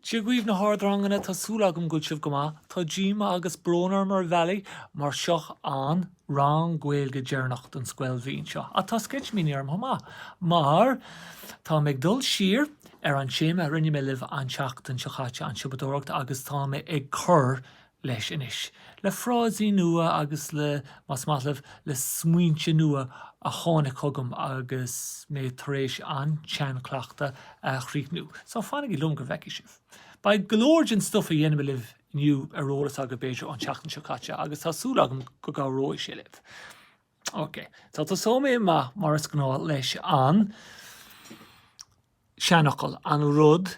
Dia dhaoibh na hardranganna, tá súil agam go bhfuil sibh go maith. Tá díoma agus brón orm ar bhealaí mar seo an rang Gaeilge deireanach don scoilbhliain seo. Ach tá sceitimíní orm chomh maith mar táim ag dul siar ar an téama a rinne mé libh an tseachtain seo caite, an siopadóireacht, agus táim ag cur leis anois, le frásaí nua agus le, más maith leat, le smaointe nua a tháinig chugam agus mé tar éis an tseanchleachtadh a chríochnú. So, fanaigí liom go bhfeicfidh sibh. Beidh go leor den stuif a dhéanfaidh mé libh inniu ar eolas agaibh, b'fhéidir, ón tseachtain seo caite agus tá súil agam go gcabhróidh sé libh. Ok, so tosóidh mé amach, mar is gnáth, leis an seanfhocal, an rud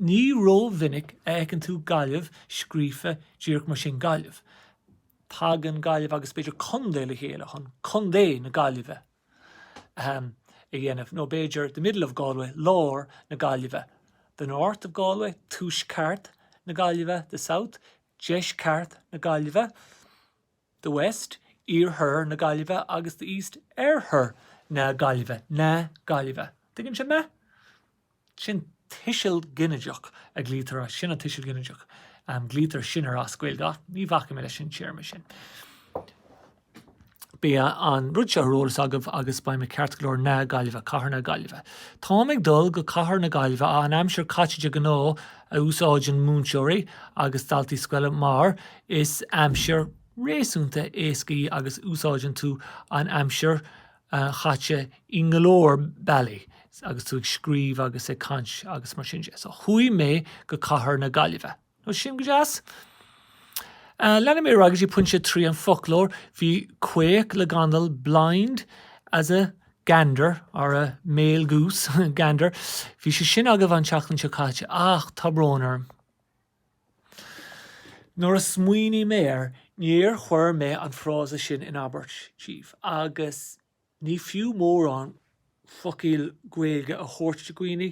Ní ró-mhinic a fheiceann tú Gaillimh scríofa díreach mar sin, Gaillimh. Tagann Gaillimh agus b'fhéidir Contae le chéile chun Contae na Gaillimhe, ahem, a dhéanamh, nó b'fhéidir the middle of Galway, lár na Gaillimhe, the north of Galway, tuaisceart na Gaillimhe, the south, deisceart na Gaillimhe. the West, Iarthar na Gaillimhe agus the East, Oirthear na Gaillimhe, na Gaillimhe. An dtuigeann sibh mé? Sin tuiseal ginideach a ghlaoitear, sin an tuiseal ginideach a ghlaoitear sin air as Gaeilge, ach ní bhacfaidh mé leis an téarma sin. Beidh an rud seo ar eolas agaibh agus beidh muid ceart go leor, na Gaillimhe, cathair na Gaillimhe. Táim ag dul go cathair na Gaillimhe, an aimsir chaite de ghnáth a úsáideann múinteoirí agus daltaí scoile mar Is aimsir réasúnta éasca í agus úsáideann tú an aimsir chaite i ngo leor bealaí agus tú ag scríobh agus ag caint agus mar sin de. So chuaigh mé go cathair na Gaillimhe. Now sin go deas. Leanfaidh mé ar aghaidh go dtí pointe a trí, an foclóir. Bhí, caoch le gandal, blind as a gander or a male goose, gander. Bhí sé sin agaibh an tseachtain seo caite ach tá brón orm. Nuair a smaoiním air, níor chuir mé an frása sin in abairt daoibh, agus ní fiú mórán focail Gaeilge a thabhairt do dhaoine,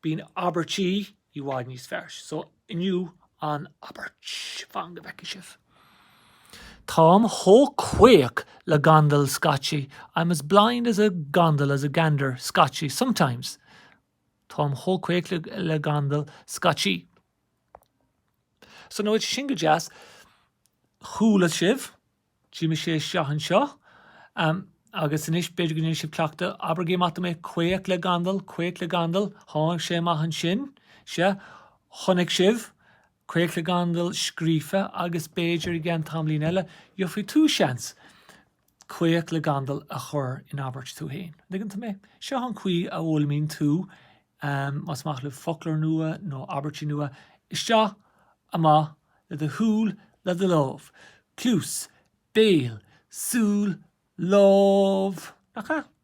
bíonn abairtí i bhfad níos fearr, so inniu an abairt, fan go bhfeicfidh sibh. Táim chomh caoch le gandal scaití, I'm as blind as a gandal, as a gander, scaití, sometimes. Táim chomh caoch le gandal scaití. So now sin go deas, chuala sibh d'imigh sé isteach anseo, agus anois b'fhéidir go ndéanfaidh sibh cleachtadh, abraigí amach dom é, caoch le gandal, caoch le gandal, tháinig sé amach ansin, sea, chonaic sibh, caoch le gandal scríofa, agus b'fhéidir i gceann tamaillín eile, gheobhaidh tú seans, caoch le gandal a chur in abairt tú fhéin. An dtuigeann tú mé? Seo an chaoi a fhoghlaimíonn tú, más maith libh, foclóir nua nó abairtí nua. Isteach, amach, le do shúil, le do lámh. Cluas, béal, súil, lámh! Nach ea?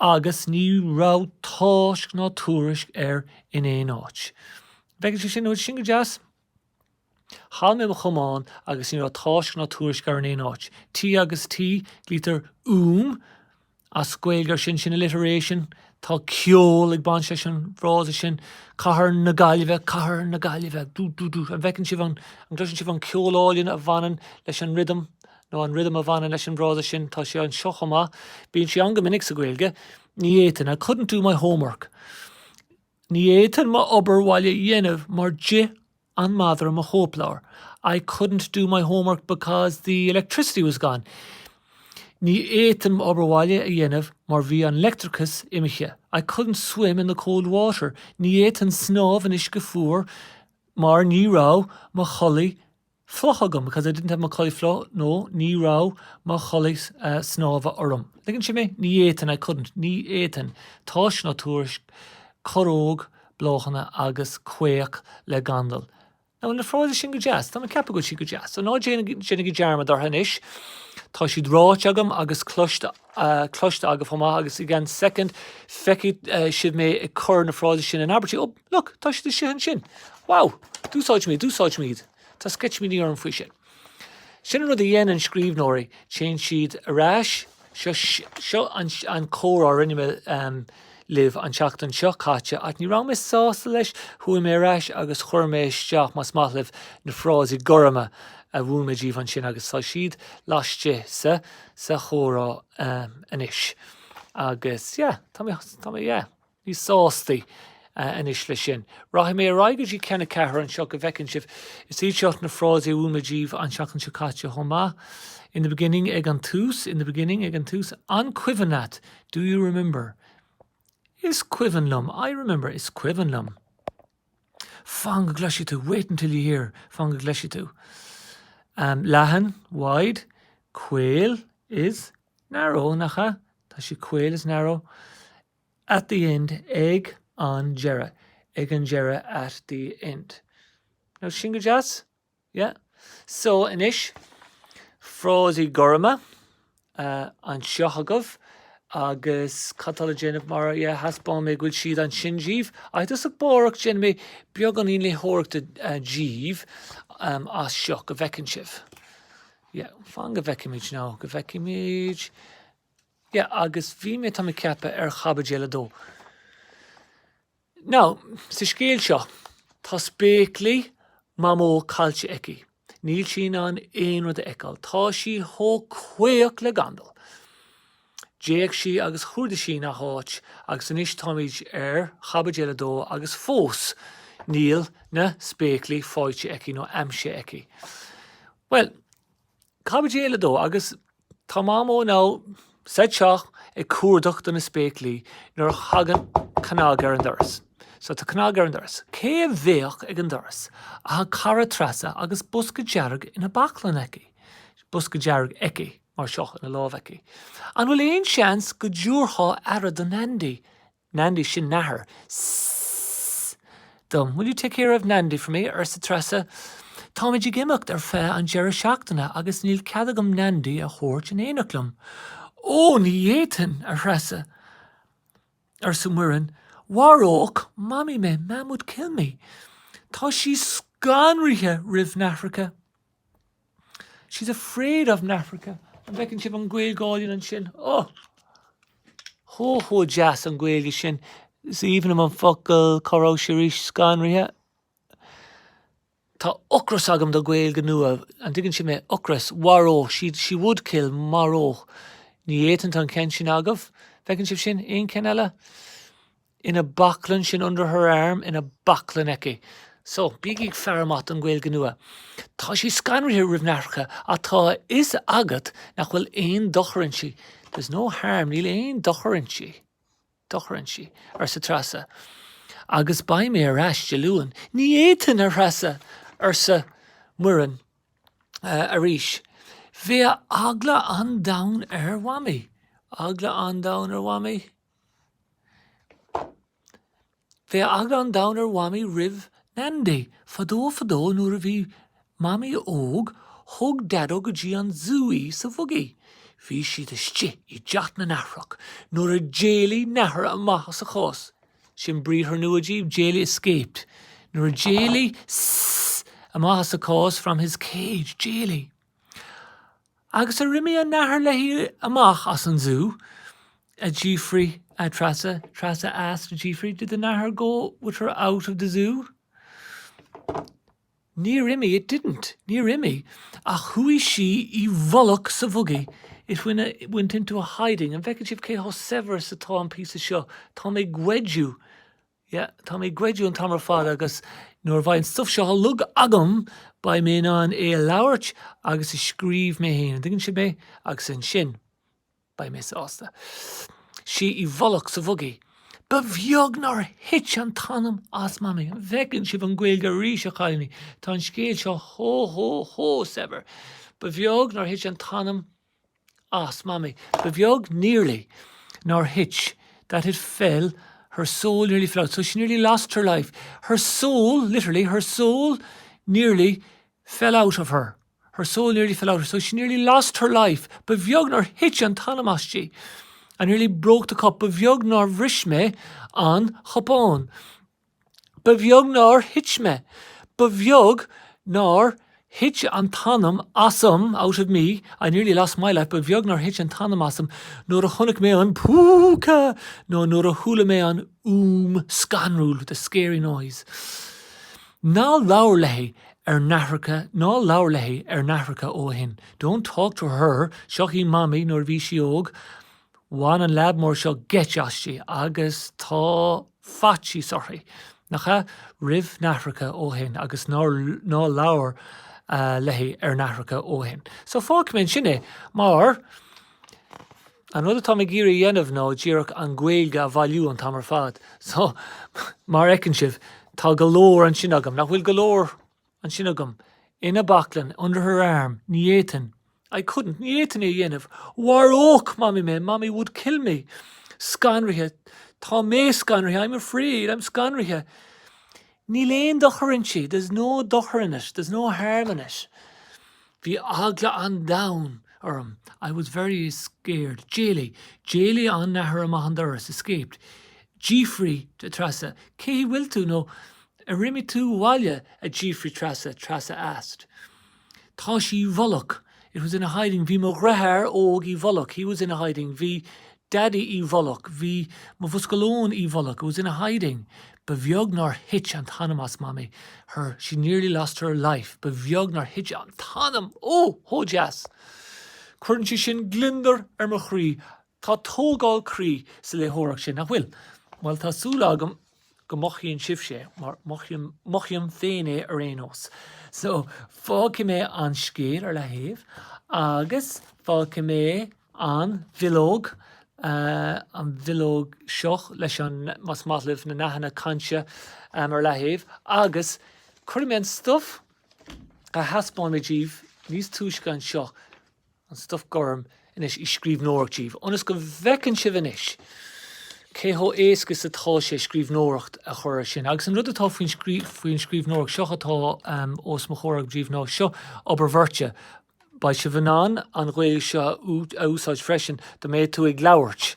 agus ní raibh tásc ná tuairisc air in aon áit. An bhfeiceann sibh sin? An bhfuil sin go deas? Chaill mé mo chamán agus ní raibh tásc ná tuairisc air in aon áit. T agus T, glaoitear 'uaim' as Gaeilge ar sin, sin alliteration, tá ceol ag baint leis an bhfrása sin, Cathair na Gaillimhe, Cathair na Gaillimhe, dú dú dú. An bhfeiceann sibh an, an gcloiseann sibh an ceol álainn a bhaineann leis an rhythm? nó an rithim a bhaineann leis an bhfrása sin, tá sé anseo chomh maith, bíonn sé ann go minic sa Ghaeilge, ní fhéadfainn, I couldn't do my homework, ní fhéadfainn m'obair bhaile a dhéanamh mar d'ith an madra mo chóipleabhar, I couldn't do my homework because the electricity was gone, ní fhéadfainn m'obair bhaile a dhéanamh mar bhí an leictreachas imithe, I couldn't swim in the cold water, ní fhéadfainn snámh in uisce fuar mar ní raibh mo chulaith fliuch agam because I didn't have mo chulaith fliuch nó ní raibh mo chulaith snámha orm an dtuigeann sibh mé ní fhéadfainn I couldn't ní fhéadfainn tásc ná tuairisc corróg bláthanna agus caoch le gandal now na frásaí sin go deas tá mé ag ceapadh go bhfuil siad go deas so ná déanaigí dearmad orthu anois tá siad ráite agam agus cloiste cloiste agaibh chomh maith agus i gceann second feicfidh sibh mé ag cur na frásaí sin in abairtí oh Look, tá siad istigh ansin. Wow! D'úsáid mé iad, d'úsáid mé iad. Tá sceitimíní orm faoi sin. Sin an rud a dhéanann scríbhneoirí, téann siad ar ais, seo, seo an, an comhrá a rinne mé um, libh an tseachtain seo caite, ach ní raibh mé sásta leis, chuaigh mé ar ais agus chuir mé isteach, más maith libh, na frásaí gorma a mhúin mé daoibh ansin agus tá siad laistigh sa, sa chomhrá um, anois. Agus, yeah, tá mé, tá mé, yeah. Níos sástaí anois leis sin. Rachaidh mé ar aghaidh go dtí ceann a ceathair anseo go bhfeiceann sibh. Is iad seo na frásaí a mhúin mé daoibh an tseachtain seo caite chomh maith, In the beginning, ag an tús, in the beginning, ag an tús, an cuimhin leat? Do you remember? Is cuimhin liom. I remember. Is cuimhin liom. Fan go gcloisfidh tú. Wait until you hear. Fan go gcloisfidh tú. Um, leathan, wide, caol is narrow, nach ea? Tá sí caol is narrow. At the end, ag an deireadh, ag an deireadh at the end. Now, sin go deas? Yeah? So, anois, frásaí gorma anseo agaibh, agus cad atá le déanamh mar, yeah, thaispeáin mé go bhfuil siad ansin dhíbh. Agus amárach, déanfaidh mé beagáinín léitheoireachta dhíbh as seo, go bhfeiceann sibh. Yeah, fan go bhfeicimid, now, go bhfeicimid. Yeah, agus bhí mé, tá mé ag ceapadh, ar chaibidil a dó. Now, sa scéal seo, tá spéaclaí Mhamó caillte aici. Níl sí in ann aon rud a fheiceáil. Tá sí chomh caoch le gandal. D'fhéach sí agus chuardaigh sí 'ch aon áit agus anois táimid ar chaibidil a dó agus fós níl na spéaclaí faighte aici nó aimsithe aici. Bhuel, Caibidil a dó, agus tá Mamó sa teach ag cuardach do na spéaclaí nuair a thagann cnag ar an doras. So tá cnag ar an doras. Cé a bheadh ag an doras ach a cara Treasa agus bosca dearg ina baclainn aici. bosca dearg aici mar seo ina lámh aici. An bhfuil aon seans go dtabharfá aire do Nandy? Nandy, sin nathair. S-s-s-s-s dom. Will you take care of Nandy for me? arsa Treasa. Táimid ag imeacht ar feadh an deireadh seachtaine agus níl cead agam Nandy a thabhairt in éineacht liom. Ó, ní fhéadfainn, a Threasa, arsa Muireann. Mharódh Mamaí mé. Mam would kill me. Tá sí scanraithe roimh nathracha. She's afraid of nathracha. An bhfeiceann sibh an Ghaeilge álainn ansin? Oh! Chomh chomh deas an Ghaeilge sin. Is aoibhinn liom an focal cá raibh sé arís? Scanraithe? Tá ocras agam do Gaeilge nua. An dtuigeann sibh mé? Ocras. Mharódh. She, she would kill. Mharódh. Ní fhéadfainn. Tá an ceann sin agaibh. An bhfeiceann sibh sin? Aon cheann eile? Ina baclainn sin under her arm, ina baclainn aici. So, bígí ag faire amach don Ghaeilge nua. Tá sí scanraithe roimh nathracha ach tá a fhios agat nach bhfuil aon dochar inti. There's no harm, níl aon dochar inti, dochar inti, arsa Treasa. Agus beidh mé ar ais Dé Luain. Ní fhéadfainn, a Threasa, arsa Muireann arís. Bheadh eagla an domhain ar Mhamaí. Eagla an domhain ar Mhamaí? Bheadh eagla an domhain ar Mhamaí roimh Nandy. Fadó fadó nuair a bhí Mamaí óg, thug Daideó go dtí an zú í sa bhuggy. Bhí siad istigh i dteach na nathrach nuair a d'éalaigh nathair amach as a cás. Sin briathar nua díbh, d'éalaigh 'escaped'. Nuair a d'éalaigh, sss, amach as a cás, from his cage, d'éalaigh. Agus ar imigh an nathair léi amach as an zú? a d'fhiafraigh Treasa. Treasa asked, a d'fhiafraigh, Did the nathair go with her out of the zú? Níor imigh, it didn't. Níor imigh, ach chuaigh sí i bhfolach sa bhugaí, it went into a hiding. An bhfeiceann sibh cé chomh saibhir is atá an píosa seo? Tá mé ag goideadh Yeah, tá mé ag goideadh an t-am ar fad agus nuair a bheidh an stuff seo uilig agam, beidh mé in ann é a labhairt agus a scríobh mé féin. An dtuigeann sibh mé? Agus ansin, beidh mé sásta. Sí i bhfolach sa bhugaí. Ba bheag nár thit an t-anam as mamaí. An bhfeiceann sibh an Ghaeilge arís, a chailíní? Tá an scéal seo chomh, chomh, chomh saibhir. Ba bheag nár thit an t-anam as Mamaí. Ba bheag nearly nár thit that it fell her soul nearly fell out so she nearly lost her life her soul literally her soul nearly fell out of her her soul nearly fell out of her so she nearly lost her life ba bheag nár thit an t-anam aisti I nearly broke the cup ba bheag nár bhris mé an cupán Ba bheag nár thit mé, ba bheag nár thit an t-anam asam, out of me, I nearly lost my life, ba bheag nár thit an t-anam asam nuair a chonaic mé an púca nó nuair a chuala mé an fhuaim scanrúil, the scary noise. Ná labhair léi ar nathracha, ná labhair léi ar nathracha ó shin, don't talk to her, seo í Mamaí nuair a bhí sí óg, Bhain an leaid mór seo geit aisti agus tá faitíos uirthi, nach ea? roimh nathracha ó shin agus ná labhair léi ar nathracha ó shin. So fágfaidh mé ansin é mar an rud atá mé ag iarraidh a dhéanamh ná díreach an Ghaeilge a bhailiú an t-am ar fad. So mar a fheiceann sibh, tá go leor ansin agam, nach bhfuil go leor? ansin agam, ina baclainn, under her arm, ní fhéadfainn, I couldn't, ní fhéadfainn é a dhéanamh, mharódh Mamaí mé, Mommy would kill me, scanraithe, tá mé scanraithe, I'm afraid, I'm scanraithe, níl aon dochar inti, there's no dochar in it, there's no harm in it. Bhí eagla an domhain orm, I was very scared. D'éalaigh, d'éalaigh an nathair amach an doras, escaped. D'fhiafraigh Treasa, Cé bhfuil tú? nó Ar imigh tú abhaile? a d'fhiafraigh Treasa, Treasa asked. Tá sí i bhfolach, it was in a hiding, bhí mo dhreatháir óg i bhfolach, he was in a hiding, bhí Daidí i bhfolach, bhí mo bhosca lóin i bhfolach, it was in a hiding. Ba bheag nár thit an t-anam as Mamaí, her, she nearly lost her life. Ba bheag nár thit an t-anam! Oh! Chomh deas! Cuireann sé sin gliondar ar mo chroí. Tá tógáil croí sa léitheoireacht sin, nach bhfuil? Bhuel, tá súil agam. go mothaíonn sibhse é, mar mothaím féin é ar aon nós. So, fágfaidh mé an scéal ar leathaobh, agus fágfaidh mé an bhileog, an bhileog seo leis an, más maith libh na nathanna cainte, ar leathaobh, agus cuirfidh mé an stuif a thaispeáin mé daoibh níos túisce anseo, An stuif gorm anois i scríbhneoireacht díbh, ionas go bhfeiceann sibh anois cé chomh héasca is atá sé scríbhneoireacht a chur air sin. Agus an rud atá faoin scríbhneoireacht, seo atá os mo chomhair agam díbh ná, seo obair bheirte. Beidh sibh in ann an Ghaeilge seo a úsáid freisin, dá mbeadh tú ag labhairt.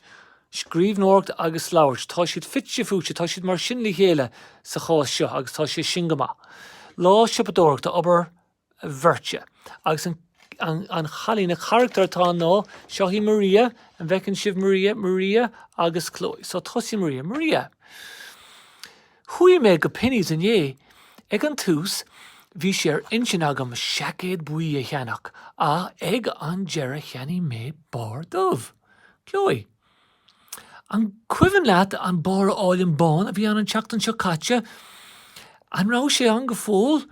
Scríbhneoireacht agus labhairt, tá siad fite fuaite, tá siad mar sin le chéile sa chás seo, agus tá sé sin go maith. Lá siopadóireachta, obair bheirte. Agus an cailín, an carachtar atá ann ná, seo í Maria, an bhfeiceann sibh Maria, Maria agus Chloe. So tosaíonn Maria. Maria, Chuaigh mé go Penneys inné. Ag an tús, bhí sé ar intinn agam seaicéad buí a cheannach ach ag an deireadh cheannaigh mé barr dubh. Chloe. An cuimhin leat an barr álainn bán a bhí ann an tseachtain seo caite? An raibh sé ann go fóill?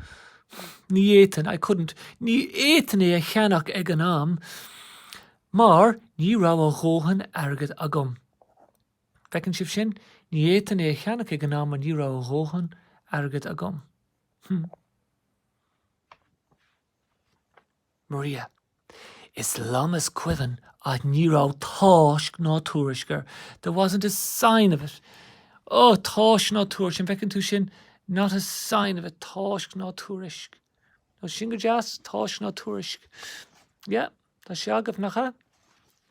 Ní fhéadfainn, I couldn't, ní fhéadfainn é a cheannach ag an am mar ní raibh a dhóthain airgid agam. Feiceann sibh sin? Ní fhéadfainn é a cheannach ag an am mar ní raibh a dhóthain airgid agam. Hm. Maria, Is liom is cuimhin ach ní raibh tásc ná tuairisc air, there wasn't a sign of it. Ó, tásc ná tuairisc, an bhfeiceann tú sin, not a sign of it, tásc ná tuairisc. Nó sin go deas, tásc ná tuairisc. Yeah. Tá sé agaibh, nach ea?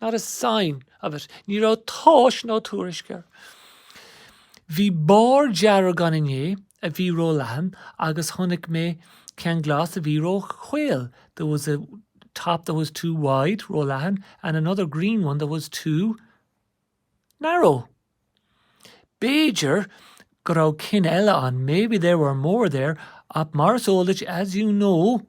Not a sign of it. Ní raibh tásc ná tuairisc air. Bhí barr dearg ann inné a bhí ró-leathan agus chonaic mé ceann glas a bhí ró-chaol, there was a top that was too wide, ró-leathan, and another green one that was too. Narrow. B'fhéidir go raibh cinn eile ann, maybe there were more there, ach mar is eol duit, as you know,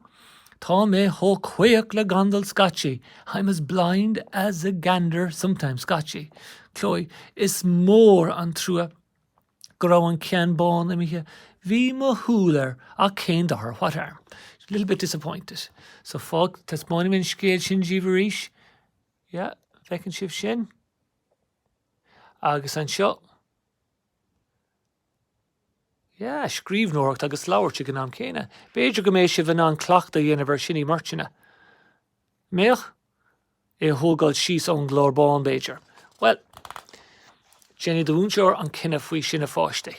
tá mé chomh caoch le gandal scaití, I'm as blind as a gander sometimes scaití. Chloe, is mór an trua go raibh an ceann bán imithe. Bhí mo shúil air, ach cén dochar, what harm? Little bit disappointed. So fág, taispeánfaidh mé an scéal sin díbh arís. Yeah, feiceann sibh sin. Agus anseo. Yeah, scríbhneoireacht agus labhairt ag an am céanna. B'fhéidir go mbeidh sibh in ann cleachtadh a dhéanamh ar sin i mbeirteanna. Mbeadh? É a thógáil síos ón gclár bán, b'fhéidir. Bhuel, déanfaidh do mhúinteoir an cinneadh faoi sin a pháistí.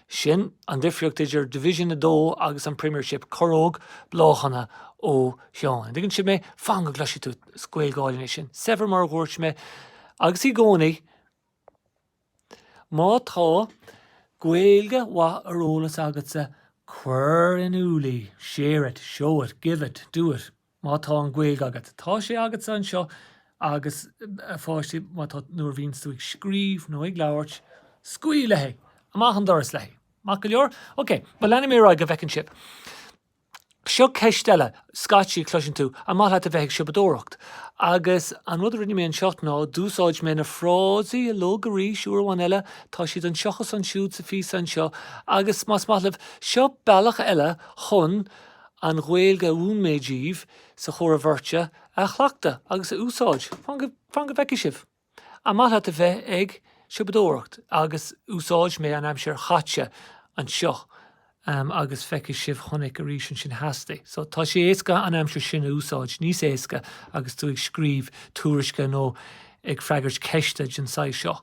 Sin an difríocht idir Division 2 agus an Premiership, coróg bláthanna ó Sheán. An dtuigeann sibh mé? Fan go gcloisfidh tú, is Gaeilge álainn é sin, saibhir mar a dhúirt mé, agus í gcónaí. Má tá Gaeilge mhaith ar eolas agatsa, cuir in iúl í, share it, show it, give it, do it. Má tá an Ghaeilg agat, tá sé agatsa anseo agus, a pháistí, má tá, nuair a bhíonns tú ag scríobh nó ag labhairt, scaoil léi! Amach an doras léi! Maith go leor? Ok, bhuel leanfaidh mé ar aghaidh go bhfeiceann sibh. Seo ceist eile, scaití cloiseann tú, An maith leat a bheith ag siopadóireacht? Agus an rud a rinne mé anseo ná, d'úsáid mé na frásaí a luadh arís, uair amháin eile, tá siad anseo agus ansiúd sa phíosa anseo, agus más maith libh, seo bealach eile chun, An Ghaeilge a mhúin mé díbh sa chomhrá bheirte, a chleachtadh agus a úsáid. Fan go bhfeicfidh sibh. An maith leat a bheith ag siopadóireacht agus úsáidfidh mé an aimsir chaite anseo agus feicfidh sibh chonaic arís ansin theastaigh so tá sé éasca an aimsir sin a úsáid níos éasca agus tú ag scríobh tuairisce nó ag freagairt ceiste den saghas seo.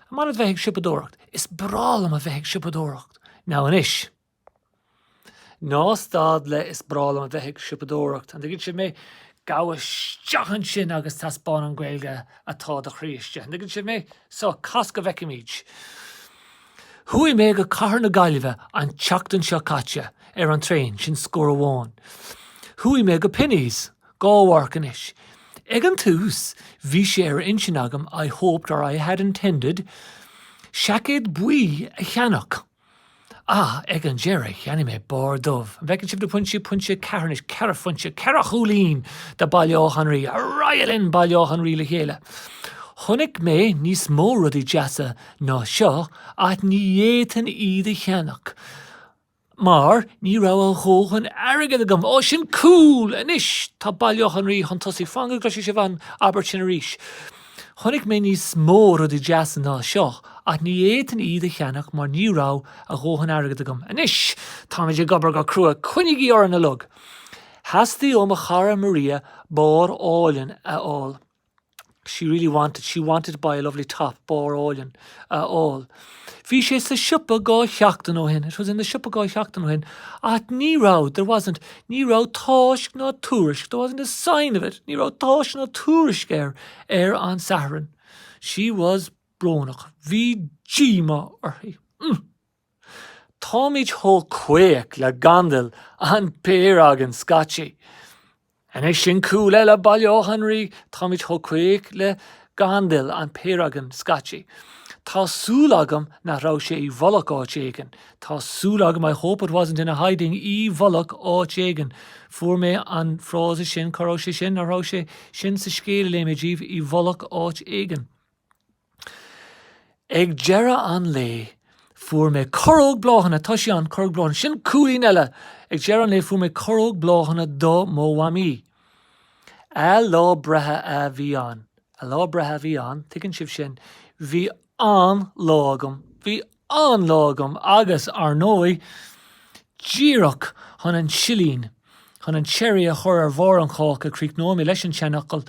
An maith leat a bheith ag siopadóireacht? Is breá liom a bheith ag siopadóireacht. Now anois. Ná stad le 'Is breá liom a bheith ag siopadóireacht', an dtuigeann sibh mé? Gabh isteach ansin agus taispeáin an Ghaeilge atá i do chroí istigh, an dtuigeann sibh mé? So, cas go bhfeicfimid. Chuaigh mé go cathair na Gaillimhe an tseachtain seo caite ar an traein, sin scór amháin. Chuaigh mé go Penneys, dhá mharc anois. Ag an tús, bhí sé ar intinn agam, I hoped or I had intended, seaicéad buí a cheannach. Ach ag an deireadh, cheannaigh mé barr dubh. An bhfeiceann sibh na pointí, pointe, ceathair, anois, ceithre phointe, ceithre chúilín do Baile Átha an Rí, ar aghaidh linn Baile Átha an Rí le chéile. Chonaic mé níos mó rudaí deasa ná seo ach ní fhéadfainn iad a cheannach mar ní raibh a dhóthain airgid agam. Ó, sin cúl! Anois, tá Baile Átha an Rí chun tosaigh. Fan go gcloisfidh sibh an abairt sin arís. Chonaic mé níos mó rudaí deasa ná seo ach ní fhéadfainn iad a cheannach mar ní raibh a dhóthain airgid agam. Anois táimid ag obair go crua, coinnígí orainn uilig! Theastaigh ó mo chara Maria barr álainn a fháil. She really wanted, she wanted to buy a lovely top, barr álainn a fháil. Bhí sé sa siopa dhá sheachtain ó shin, it was in the siopa dhá sheachtain ó shin, ach ní raibh, there wasn't, ní raibh táisc ná tuairisc, there wasn't a sign of it, ní raibh táisc ná tuairisc air ar an Satharn. She was brónach. Bhí díomá uirthi. Mm. Táimid chomh caoch le gandal an péire againn scaití. Anois sin cúl eile Baile Átha an Rí, táimid chomh caoch le gandal an péire againn scaití. Tá súil agam nach raibh sé i bhfolach áit éigin, tá súil agam I hope it wasn't in a hiding i bhfolach áit éigin, fuair mé an frása sin, cá raibh sé sin, nach raibh sé sin sa scéal a léigh mé díbh, i bhfolach áit éigin. Ag deireadh an lae, fuair mé corróg bláthanna, tá sé ann, corróg bláthanna, sin cúilín eile! Ag deireadh an lae, fuair mé corróg bláthanna do mo mhamaí. A lá breithe a bhí ann. A lá breithe a bhí ann, tuigeann sibh sin. Bhí an-lá agam. Bhí an-lá agam agus, ar ndóigh, díreach chun an silín, chun an cherry a chur ar bharr an cháca, críochnóidh mé leis an tseanfhocal,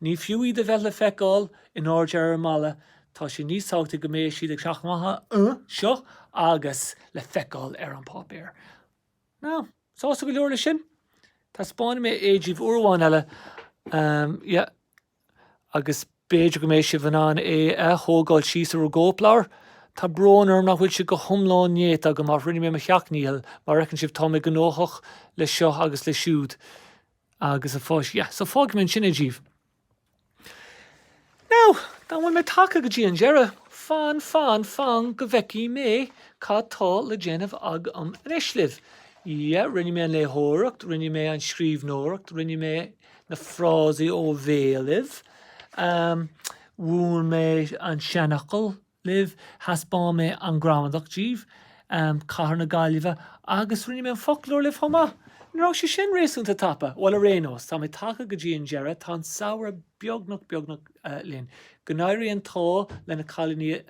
Ní fiú iad a bheith le feiceáil in airde ar an mballa, tá sé níos tábhachtaí go mbeidh siad ag teacht amach anseo agus le feiceáil ar an bpáipéar. Now, sásta go leor leis sin? Taispeánfaidh mé é díbh uair amháin eile, yeah, agus b'fhéidir go mbeidh sibh in ann é a thógáil síos ar bhur gcóipleabhair. Tá brón orm nach bhfuil sé go hiomlán néata agam, ach rinne mé mo sheacht ndícheall. Mar a fheiceann sibh, tá mé gnóthach leis seo agus leis siúd. Agus a pháistí. Yeah, so fágfaidh mé ansin é díbh. Now then, bhfuil mé tagtha go dtí an deireadh, fan, fan, fan go bhfeicfidh mé cad tá le déanamh agam anois libh. Yeah, rinne mé an léitheoireacht, rinne mé an scríbhneoireacht, rinne mé na frásaí ó bhéal libh, mhúin mé an seanfhocal, libh, thaispeáin mé an gramadach díbh, cathair na Gaillimhe, agus rinne mé an foclóir libh chomh maith. Nach raibh sé sin réasúnta tapa? Bhuel, ar aon nós, tá mé tagtha go dtí an deireadh, tá an samhradh beagnach, beagnach, linn. Go n-éirí an t-ádh le na cailíní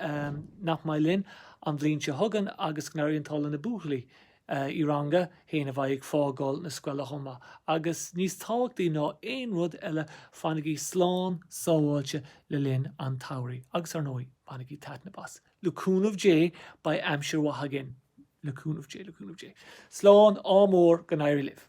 nach mbeidh linn an bhliain seo chugainn, agus go n-éirí an t-ádh le na buachaillí. i Rang a hAon a bheidh ag fágáil na scoile chomh maith. Agus níos tábhachtaí ná aon rud eile, fanaigí slán sábháilte le linn an tsamhraidh. Agus, ar ndóigh, bainigí taitneamh as. Le cúnamh Dé, beidh aimsir mhaith againn. Le cúnamh Dé. Le cúnamh Dé. Slán, ádh mór, go n-éirí libh.